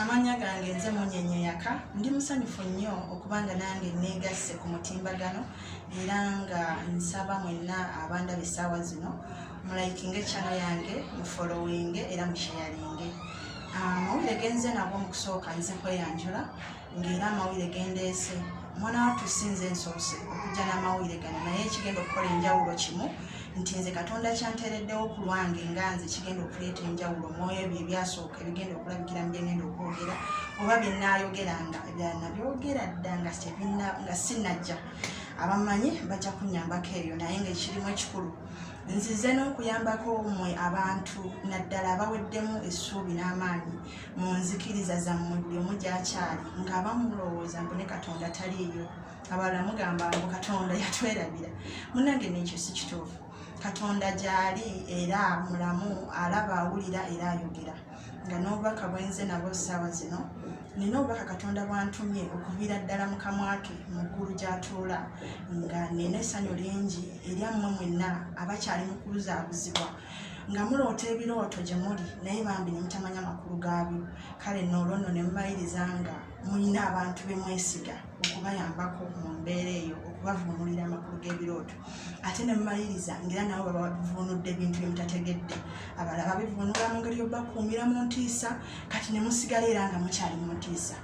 amannya gange nze munyenye yaka ndi musanyufu nnyo okuba nga nange neegasse ku mutimbagano era nga nsaba mwenna abandaba essaawa zino mulayikinga ekyano yange mufolowinge era musheyalinge ah, mawulire genze nabwo mu kusooka nze kweyanjula ng'era amawulire gendeese omwana wattu si nze nsoose okujja n'amawulire gano naye ekigenda okukola enjawulo kimu nti nze katonda kyanteereddewo ku lwange nga nze kigenda okuleeta enjawulo omwoyo ebyo ebyasooka ebigenda okulabikira mu byengenda okwogera oba bye nnaayogeranga ebyala nabyogera dda nga sinnajja abamanyi bajja kunyambako ebyo naye ngaekirimu ekikulu nzize n'okuyambako mwe abantu naddala abaweddemu essuubi n'amaanyi mu nzikiriza zammwe buli omu gyakyali ng'aba mulowooza mbu ne katonda taliiyo abalala mugamba mbu katonda yatwerabira munange nekyo si kituufu katonda gyali era mulamu alaba awulira era ayogera nga n'obubaka bwenze nabo ssaawa zino nina obubaka katonda bwantumye okuviira ddala mu kamwa ke mu ggulu gy'atuula nga nina essanyu lingi eryammwe mwenna abakyali mu kubuzaabuzibwa nga muloota ebirooto gye muli naye bambi ne mutamanya makulu gaabyo kale noolwo nno ne mubayiriza nga mulina abantu be mwesiga okubayambako mu mbeera eyo okubavuunulira amakulu g'ebirooto ate ne mubayiriza ngaera nabo babavuunudde ebintu bye mutategedde abala babivuunula mu ngeri yobakuumira mu ntiisa kati ne musigala era nga mukyali mu ntiisa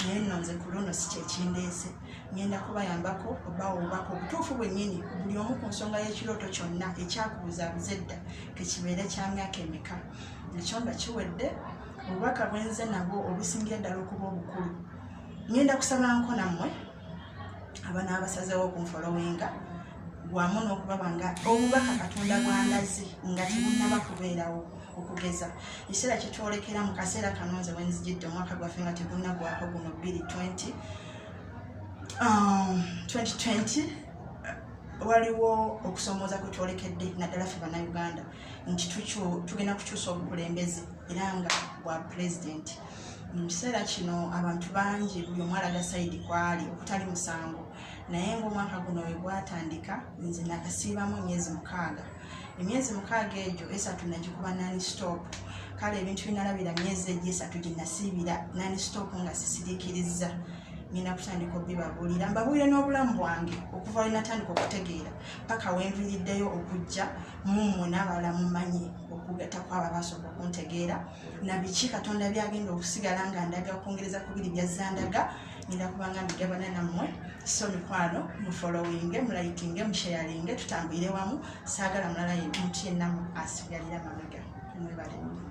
naye nno nze ku luno si kyekindeese ngenda kubayambako obawo obubaka obutuufu bwennyini buli omu ku nsonga y'ekirooto kyonna ekyakubuzabuza edda tekibeere kya myaka emeka ekyo nga kiwedde obubaka bwenze nabwo obusingira ddala okuba obukulu ngenda kusaba nko nammwe abanaabasazewo okunfolowinga wamu n'okubaba nga obubaka katonda bwandazi nga tebunaba kubeerawo okugeza ekiseera kyetwolekera mu kaseera kano nze wenzijidde omwaka gwaffe nga tegunagwako guno 220 2020 um, waliwo okusomooza kwe twolekedde naddala fe bannayuganda nti tugenda kukyusa obukulembeze era nga bwa pulezidenti mu kiseera kino abantu bangi buli omu alaga sayidi kwali okutali musango naye ngaomwaka guno wegwatandika nze nakasiibamu emyezi mukaaga emyezi mukaaga egyo esatu nagikuba nani stop kale ebintu binalabira myezi egyo esatu gyenasiibira nani stop nga sisirikirizza nina kutandika obibabuulira mbabuulire n'obulamu bwange okuva wenatandika okutegeera paka wenviiriddeyo okujja mummwe n'abalala mumanyi okugatako abo abasobola okuntegeera na biki katonda byagenda okusigala nga ndaga okwongereza ku biri byazza ndaga ngenda kubanga mbigabana nammwe so mikwano mufolowinge mulayikinge musheyalinge tutambulire wamu saagala mulala muntu yenna asigalira mabega mwebalemu